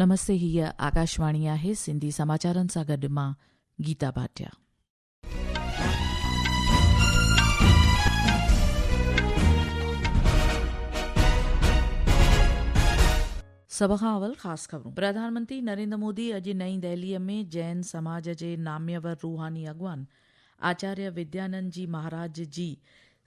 نمستي هي آڪاشواڻي آهي سنڌي سماچارن سان گڏ مان گيتا ڀاٽيا سڀ کان اول خاص خبرون پرڌان منتري نريندر مودي اڄ نئين دهلي ۾ جين سماج جي ناميور روحاني اڳواڻ آچاريه وديانند جي مهاراج جي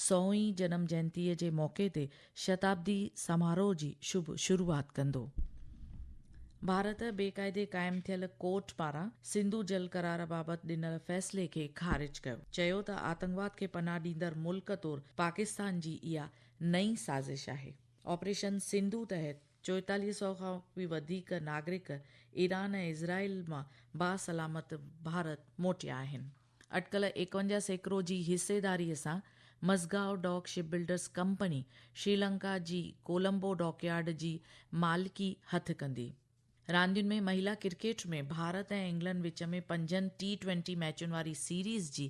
سوين جنم جينتيء جي موقعي تي شتابدي سماروهه جي شڀ شروعات ڪندو. ڀارت بي قاعدي قائم ٿيل ڪورٽ پاران سنڌو جل قرار بابت ڏنل فيصلي کي خارج ڪيو. چيو ته آتنڪواد کي پناهه ڏيندڙ ملڪ طور پاڪستان جي اها نئين سازش آهي. آپريشن سنڌو تحت چوئيتاليهه سؤ کان به وڌيڪ ناگرڪ ايران ۽ اسرائيل مان باسلامت ڀارت موٽيا آهن. اٽڪل ايڪونجاهه سيڪڙو جي حصيداريء سان Mazagon dock ship builders company Sri Lanka جي ڪولمبو ڊاڪيارڊ جي مالڪي هٿ ڪندي. راندين ۾ مهيلا ڪرڪيٽ ۾ ڀارت ۽ انگلنڊ وچ ۾ پنجن ٽي ٽوئنٽي ميچن واري سيريز جي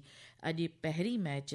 اڄ پهرين ميچ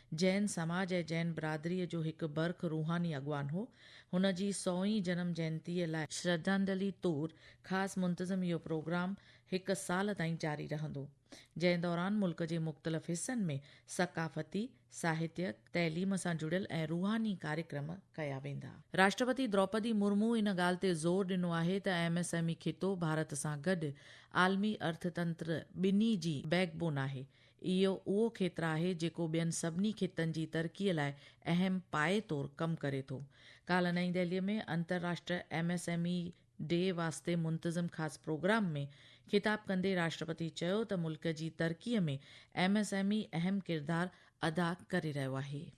جين سماج ۽ جين برادريء جو هڪ برک روحاني اڳواڻ هو. هن جي سوئين جنم جينتيء لاء شرڌانجلي طور خاص منتظم اهو پروگرام هڪ سال تائين جاري رهندو، جنهن دوران ملڪ جي مختلف حصن ۾ ثقافتي، ساهتيڪ، تعليم سان جڙيل ۽ روحاني ڪاريڪرم ڪيا ويندا. راشٽرپتي دروپدي مرمو ان ڳالهه تي زور ڏنو آهي ته ايم ايس ايم اي خطو ڀارت سان گڏ عالمي ارٿتنتر ٻنهي جي بيڪ بون آهي. اهو اهو کيتر آهي جيڪو ٻين سڀني خطن جي ترقي لاء اهم پايي طور ڪم ڪري ٿو. ڪالهه نئين دهلي ۾ انترراشٽري M S M E day واسطي منتظم خاص پروگرام ۾ خطاب ڪندي راشٽرپتي چيو ته ملڪ جي ترقي ۾ ايم ايس ايم اي اهم ڪردار ادا ڪري رهيو آهي.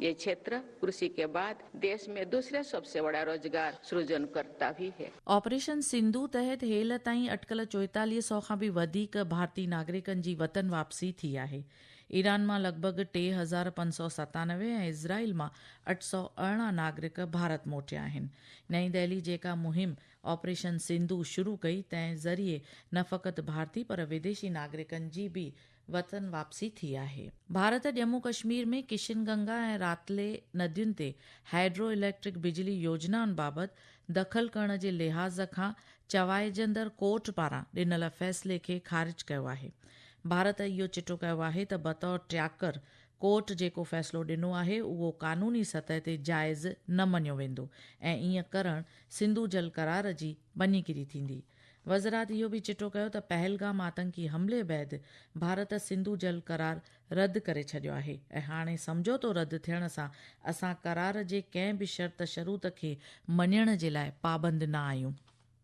يھ ڇيتر ڪرشي ڪي بعد ديش مين دوسري سب سي وڙا روزگار سرجن ڪرتا بھ ھي. آپريشن سنڌو تحت ھيل تائين اٽڪل چوئيتاليھ سئو کان به وڌيڪ ڀارتي ناگرڪن جي وطن واپسي ٿي آھي. ايران مان لڳ ڀڳ ٽي ھزار پنج سئو ستانوي ۽ اسرائيل مان اٺ سئو ارڙهن ناگرڪ ڀارت موٽيا آھن. نئين دهلي جيڪا مهم آپريشن سنڌو شروع ڪئي تنهن ذريعي نه فقط ڀارتي پر وديشي ناگرڪن جي به وطن واپسي ٿي آهي. ڀارت ڄمون ڪشمير ۾ ڪشن گنگا ۽ راتلي ندين تي هائيڊرو اليڪٽرڪ بجلي يوجنائن بابت دخل ڪرڻ جي لحاظ کان چوائجندڙ ڪورٽ پاران ڏنل فيصلي کي خارج ڪيو آهي. ڀارت اهو چٽو ڪيو آهي ته بطور ٽياڪر ڪورٽ جيڪو فيصلو ڏنو آهي اهو قانوني سطح تي جائز نه مڃيو ويندو ۽ ائين ڪرڻ سنڌو جل قرار جي ڀڃي ڪري ٿيندي. وزرات اهو به چٽو ڪيو ته پهلگام آتنڪي حملي بعد ڀارت سنڌو جل قرار رد ڪري ڇڏيو آهي ۽ هاڻي سمجهوتو رد ٿيڻ سان اسان قرار جي ڪنهن به شرط شروط کي مڃڻ جي لاء پابند نه آهيون.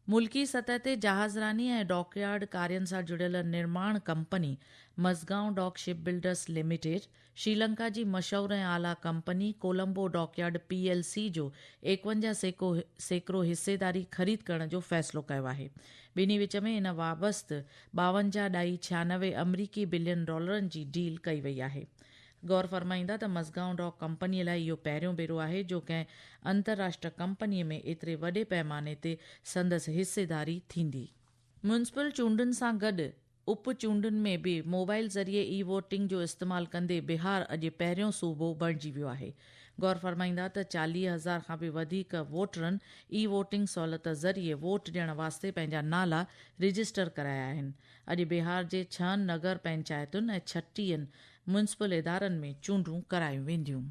ملڪي سطح تي جهازراني ۽ ڊاڪ يارڊ ڪارين سان جڙيل نرماڻ company Mazagon dock ship builders limited, Sri Lanka جي مشهور ۽ اعليٰ company Colombo dockyard P L C جو ايڪونجاهه سيڪو سيڪڙو حصيداري خريد ڪرڻ جو فيصلو ڪيو آهي. ٻنهي وچ ۾ ان وابست ٻاونجاهه ڏھائي ڇيانوي آمريڪي بلين ڊالرن جي ڊيل ڪئي وئي آهي. غور فرمائيندا ته مزگائون ڊاڪ ڪمپني لاء اهو پهريون ڀيرو آهي جو ڪنهن انترراشٽر ڪمپني ۾ ايتري وڏي پئماني تي سندس حصيداري ٿيندي. ميونسپل چونڊن سان گڏ اپ چونڊن ۾ به موبائل ذريعي اي ووٽنگ جو استعمال ڪندي بهار اڄ پهريون صوبو بڻجي ويو آهي. غور فرمائيندا ته چاليهه هزار کان به وڌيڪ ووٽرن اي ووٽنگ سهولت ذريعي ووٽ ڏيڻ واسطي پنهنجا نالا رجسٽر ڪرايا آهن. اڄ بهار جي ڇهن نگر پنچائتن ۽ ڇٽيهن ميونسپل ادارن ۾ چونڊون ڪرايون وينديون.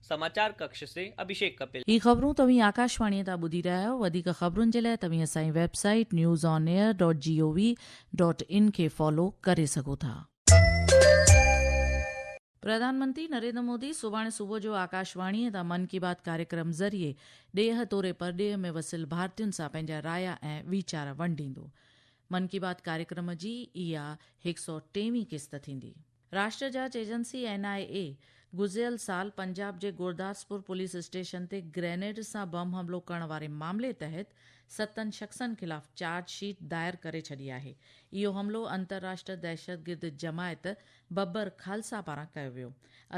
سماچار ڪڪش سين اڀيشيڪ ڪپل. هي خبرون توهين آڪاشواڻيء تان ٻڌي رهيا آهيو، وڌيڪ خبرن جي لاء توهين اسان جي website news on air dot G O V dot in کي فالو ڪري سگهو ٿا. پرڌان منتي نريندر مودي سڀاڻي صبح جو آڪاشواڻيء تان من ڪي بات ڪاريڪرم ذريعي ڏيهه توري پرڏيهه ۾ وسيل ڀارتين سان پنهنجا رايا ۽ ويچار ونڊيندو. من ڪي بات ڪاريڪرم جي اها هڪ سؤ ٽي وين قسط ٿيندي. راشٽر جاچ ايجنسي، اين آء اي، گذريل سال پنجاب جي گورداسپور پوليس اسٽيشن تي گرينيڊ سان بم حملو ڪرڻ واري معاملي تحت ستن شخصن خلاف چارج شيٽ دائر ڪري ڇڏي آهي. اهو حملو انترراشٽر دهشتگرد جماعت ببر خالصه پاران ڪيو ويو.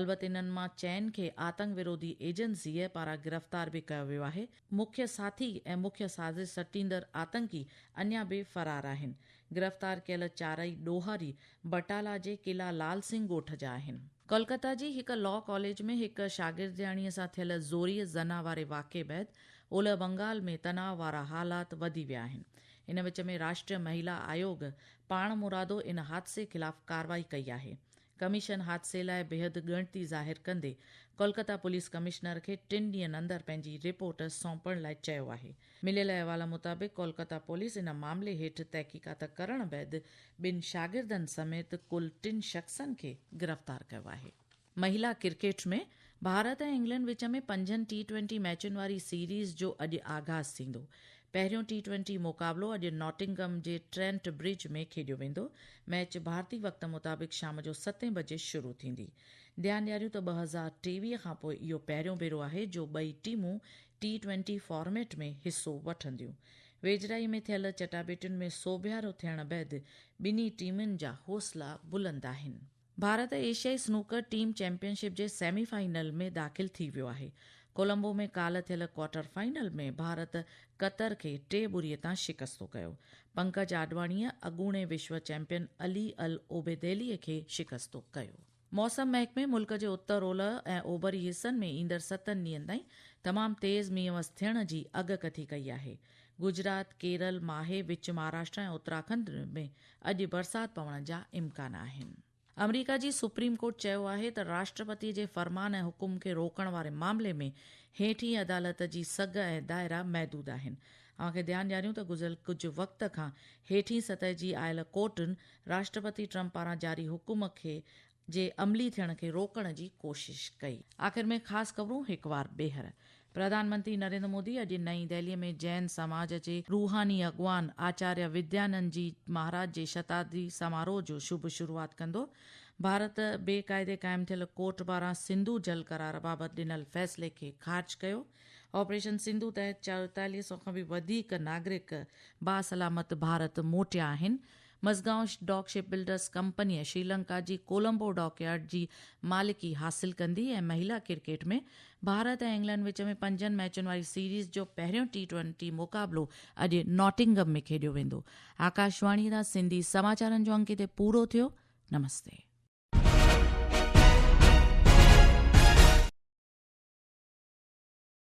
البت انهن مان چئن کي آتنڪ وروڌي ايجنسيء پاران گرفتار به ڪيو ويو آهي. مکيه ساٿي ۽ مکيه سازش سٽيندڙ آتنڪي اڃا به فرار آهن. گرفتار ڪيل چارئي ڏوهاري بٽالا جي قلعه لال سنگهه ڳوٺ جا آهن. ڪولڪتا جي هڪ لا ڪاليج ۾ هڪ شاگردياڻيء سان ٿيل زوريء زنا واري واقعي بعد اولهه بنگال ۾ تناء وارا حالات وڌي ويا آهن. ان وچ ۾ راشٽريه مهيلا آيوگ پاڻمرادو ان حادثي خلاف ڪارروائي ڪئي آهي. ڪميشن حادثي لاء بيحد ڳڻتي ظاهر ڪندي ڪولڪتا پوليس ڪمشنر کي ٽن ڏينهن اندر پنهنجي رپورٽ سونپڻ لاء چيو آهي. مليل احوال مطابق ڪولڪتا پوليس ان معاملي هيٺ تحقيقات ڪرڻ بعد ٻن شاگردن سميت ڪل ٽن شخصن کي گرفتار ڪيو آهي. مهيلا ڪرڪيٽ ۾ ڀارت ۽ انگلينڊ وچ ۾ پنجن ٽي ٽوئنٽي ميچن واري سيريز جو اڄ آغاز ٿيندو. پهريون ٽي ٽوئنٽي مقابلو اڄ ناٽنگهم جي ٽرينٽ برج ۾ کيڏيو ويندو، ميچ ڀارتي وقت مطابق شام جو ستين بجي شروع ٿيندي. ڌيان ڏياريون ته ٻه هزار ٽيويهه کانپوء اهو پهريون ڀيرو آهي جو ٻئي ٽيمون ٽي ٽوئنٽي فارميٽ ۾ حصو وٺنديون. ويجهڙائي ۾ ٿيل چٽاڀيٽين ۾ سوڀيارو ٿيڻ بعد ٻنهي ٽيمن جا حوصلا بلند آهن. ڀارت ايشيائي سنوڪر ٽيم چيمپيئن شپ جي سيمي فائنل ۾ داخل ٿي ويو آهي. ڪولمبو ۾ ڪالهه ٿيل ڪوارٽر فائنل ۾ ڀارت قطر کي ٽي ٻري تان شڪستو ڪيو. پنڪج آڏواڻيء اڳوڻي وشو چيمپيئن علي العبيدعليء کي شڪستو ڪيو. موسم محڪمي ملڪ جي اتر اولهه ۽ اوڀري حصن ۾ ايندڙ ستن ڏينهن تائين تمام تيز مينهن وس ٿيڻ جي اڳڪٿي ڪئي آهي. گجرات، ڪيرل، ماهي، وچ مهاراشٽرا ۽ اتراکنڊ ۾ اڄ برسات پوڻ جا امڪان آهن. آمريڪا جي سپريم ڪورٽ چيو آهي ته راشٽرپتي جي فرمان ۽ حڪم کي روڪڻ واري معاملي ۾ هيٺين عدالت جي سگهه ۽ دائرا محدود آهن. اوهان کي ڌيان ڏياريون ته گذريل ڪجهه وقت کان هيٺين سطح جي آيل ڪورٽن راشٽرپتي ٽرمپ پاران جاري حڪم کي جي عملي ٿيڻ کي روڪڻ جي ڪوشش ڪئي. آخر ۾ خاص خبرون هڪ وار ٻيهر. پرڌان منتري نريندر مودي اڄ نئين دهلي ۾ جين سماج جي روحاني اڳواڻ آچاريه وديانند جي مهاراج جي شتابدي سماروهه جو شڀ شروعات ڪندو. ڀارت بي قاعدي قائم ٿيل ڪورٽ پاران سنڌو جل قرار بابت ڏنل فيصلي کي خارج ڪيو. آپريشن سنڌو تحت چويتاليهه سؤ کان به وڌيڪ ناگرڪ باسلامت ڀارت موٽيا آهن. مزگائون ڊاڪ شپ بلڊرز ڪمپنيء شريلنڪا جي ڪولمبو ڊاڪ يارڊ جي مالڪي حاصل ڪندي ۽ مهيلا ڪرڪيٽ ۾ ڀارت ۽ انگلنڊ وچ ۾ پنجن ميچن واري سيريز جو پهريون ٽي ٽوئنٽي مقابلو اڄ ناٽنگم ۾ کيڏيو ويندو. آڪاشواڻيء تان سنڌي سماچارن جو انڪ هتي پورو ٿيو. نمستي.